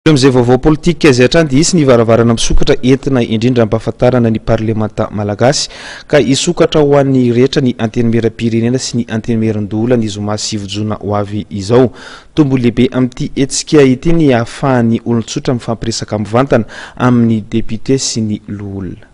Avy amin'izay vaovao politika izay hatrany dia hisy ny varavarana misokatra entina indrindra hampahafantarana ny parlemanta malagasy ka hisokatra ho an'ny rehetra ny Antenimierampirenena sy ny Antenimierandoholona ny zoma sivy jona ho avy izao. Tombony lehibe amin'ity hetsika ity ny hahafahan'ny olon-tsotra mifampiresaka mivantana amin'ny depiote sy ny loholona.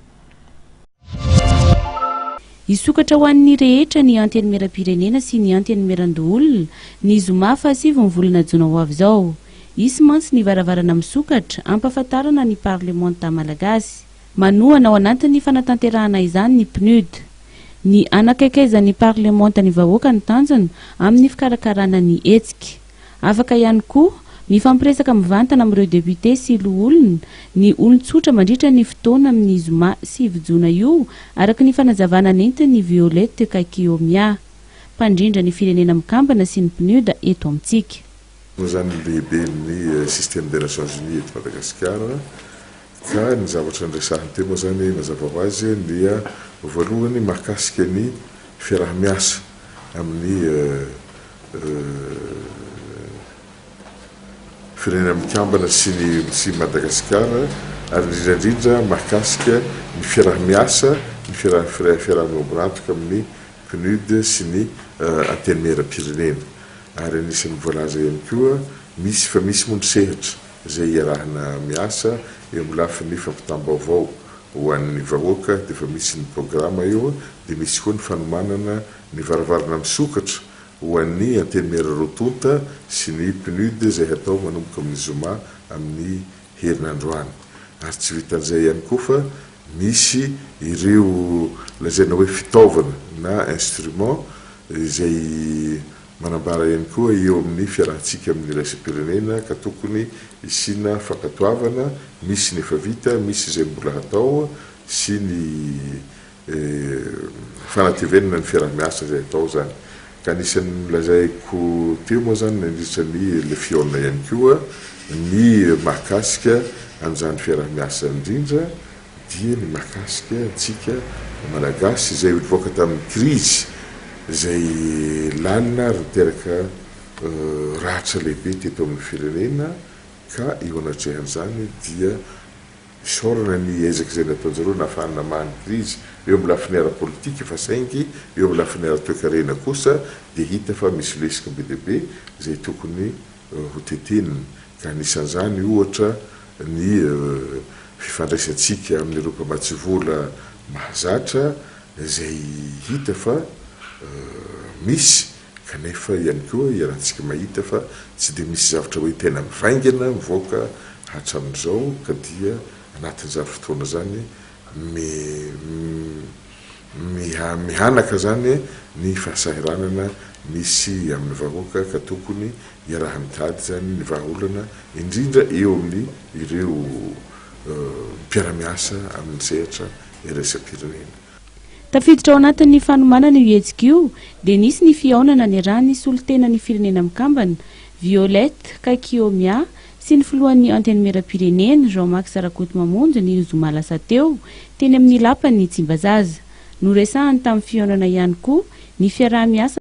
Hisokatra ho an'ny rehetra ny Antenimieram-pirenena sy ny Antenimieran-doholona, ny zoma fahasivy ny volana jona ho avy izao. Hisy mantsy ny varavarana misokatra, hampahafantarana ny parlemanta malagasy. Manohana ao anatin'ny fanatanterahana izany ny Pnud. Ny hanakaikaizan'ny parlemanta ny vahoaka no tanjona, amin'ny fikarakarana ny hetsika. Afaka ihany koa mifampiresaka mivantana amin'ireo députés sy loholona ny olon-tsotra mandritra ny fotoana amin'ny zoma sivy jona io, araka ny fanazavana nentin'i Violette Kaikiomia, mpandrindra ny Firenena Mikambana sy ny PNUD eto amintsika. Noho izany ny lehiben'ny Système des Nations Unies eto Madagasikara, Ka ny zavatra niresahan'i Temo izany mazava ho azy dia voalohany mahakasika ny fiaraha-miasa amin'ny Firenena Mikambana sy ny sy Madagasikara ary indrindra indrindra mahakasika ny fiaraha-miasa ny fiaraha fiaraha-miomborantoka amin'ny PNUD sy ny Antenimieram-pirenena ary anisan'ny voalaza ihany koa misy fa misy moa ny sehatra izay iarahana miasa eo amin'ny lafiny fampitam-baovao ho an'ny vahoaka dia efa misy ny programa eo dia misy koa ny fanomanana ny varavarana misokatra ho an'ny antenimiera roa tonta sy ny PNUD izay hatao manomboka amin'ny zoma amin'ny herinandro any ary tsy vitan'izay ihany koa fa misy ireo lazaina hoe fitaovana na instrument izay Manambara ihany koa eo amin'ny fiarahantsika amin'ny iraisam-pirenena ka tokony hisiana fankatoavana, misy ny efa vita, misy izay mbola hatao sy ny fanatevenana ny fiaraha-miasa izay hatao izany. Ka anisan'ny nolazaiko teo moa izany nandritra ny LFION ihany koa ny mahakasika an'izany fiaraha-miasa indrindra, dia ny mahakasika antsika Malagasy izay nivoaka tamin'ny krizy izay lalina ary niteraka ratra lehibe teto amin'ny firenena ka eo anatrehan'izany dia isaorana ny ezaka izay nataon'izy ireo nahafahany namaha ny krizy eo amin'ny lafiny ara-politika fa saingy eo amin'ny lafiny ara-toekarena kosa dia hita fa misy lesoka be dia be izay tokony ho teteniny, ka anisan'izany, ohatra, ny fifandraisantsika amin'ireo mpamatsy vola mahazatra izay hita fa misy, kanefa ihany koa iarahantsika mahita fa tsy dia misy zavatra hoe tena mivaingana mivoaka hatramin'izao, ka dia anatin'izany fotoana izany, Miha-mihanaka izany ny fahasahiranana misy amin'ny vahoaka ka tokony iaraha-mitady izany ny vahaolana indrindra eo amin'ny ireo mpiara-miasa amin'ny sehatra iraisam-pirenena. Tafiditra ao anatin'ny fanomanana io hetsika io dia nisy ny fihaonana niarahan'ny solontenan'ny Firenena Mikambana, Violette Kaikiomia sy ny filohan'ny Antenimierampirenena, Jean Max Rakotomamonjy ny zoma lasa teo, teny amin'ny lapan'ny Tsimbazaza. Noresahany tamin'ny fihaonana ihany koa ny fiaraha-miasa.